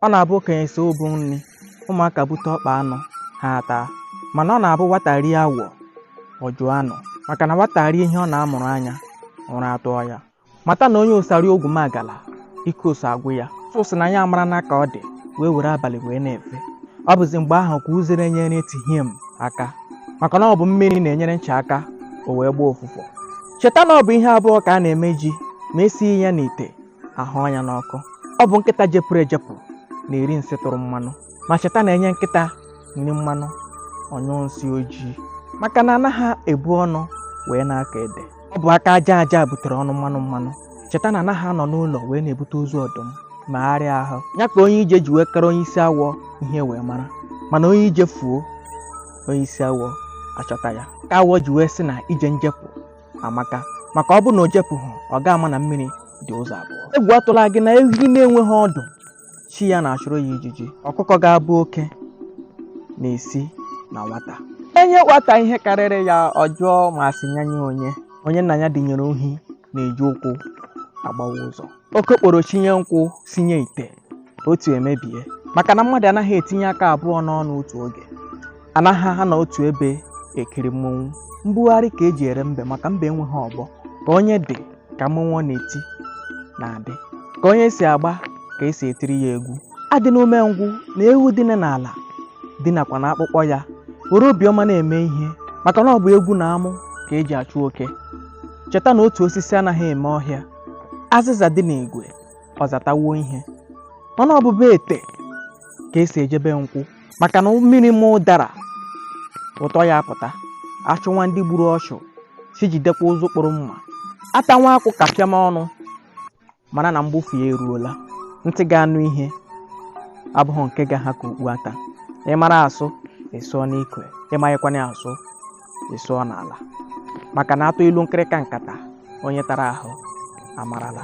Ọ na-abụ okenye so obu nri, ụmụaka bute ọkpa anụ, ha ataa. Mana ọ na-abụ nwata rie awọ, ọ jụọ anụ. Maka na nwata rie ihe ọ na-amụrụ anya, ụra atụọ ya. Mata na onye ụsa rie ogwumagala, ike ụsa agwụ ya. Ụsụ sị na ya amarana ka ọ dị wee were abalị wee na-efe. Ọ bụzi mgbe ahụ ka uzere enyere etihiem aka. Maka na ọ bụ mmiri na-enyere ncha aka, o wee gbaa ụfụfụ. Cheta na ọ bụ ihe abụọ ka a na-eme ji ma e sighị ya n'ite ahụọ ya n'ọkụ ọ bụ nkịta jepụrụ ejepụ na-eri nsị tụrụ mmanụ ma cheta na enye nkịta nri mmanụ ọ nyụọ nsị ojii maka na anaghị ebu ọnụ wee na-akọ ede ọ bụ aka aja aja butere ọnụ mmanụ mmanụ cheta na anaghị anọ n'ụlọ wee na-ebute ozu ọdụm ma arịa ahụ ya ka onye ije ji wee kara onye isi awọ ihe wee mara mana onye ije fuo onye isi awọ achọta ya ka awọ ji wee sị na ije njepụ amaka maka ọ bụ na o jepụghị ọ ga-ama na mmiri dị ụzọ abụọ egwu atụla gị na ehi na-enweghị ọdụ chi ya na-achụrụ ya ijiji ọkụkọ ga-abụ oke na-esi na nwata enye nwata ihe karịrị ya ọ jụọ ma asị ya nye onye onye nna ya dunyere ohi na-eji ụkwụ agbawa ụzọ okokporo chinye nkwụ sinye ite otu emebie maka na mmadụ anaghị etinye aka abụọ n'ọnụ otu oge anaghị anọ otu ebe ekiri mmọnwụ mbugharị ka eji ere mbe maka mbe enweghị ọgbọ ka onye dị ka mmọnwụ ọ na-eti na-adị ka onye si agba ka esi etiri ya egwu adịna ume ngwụ na ewu dina n'ala dinakwa na akpụkpọ ya were obiọma na-eme ihe maka na ọ bụ egwu na amụ ka eji achụ oke cheta na otu osisi anaghị eme ọhịa azịza dị n'igwe ọ zatawuo ihe mana obubu ete ka esi ejebe nkwụ maka na mmiri maa ụdara ụtọ ya apụta achụwa ndị gburu ọchụ sị jidekwa ụzụ kpụrụ mma atanwa akwụ kapịa m ọnụ mara na mgbufu ya eruola ntị ga-anụ ihe abụghị nke ga-aha ka okpu ata ị mara asụ ị sụọ n'ikwe ị maghịkwanụ asụ ị sụọ n'ala maka na atụọ ilu nkịrịka nkata onye tara ahụ amarala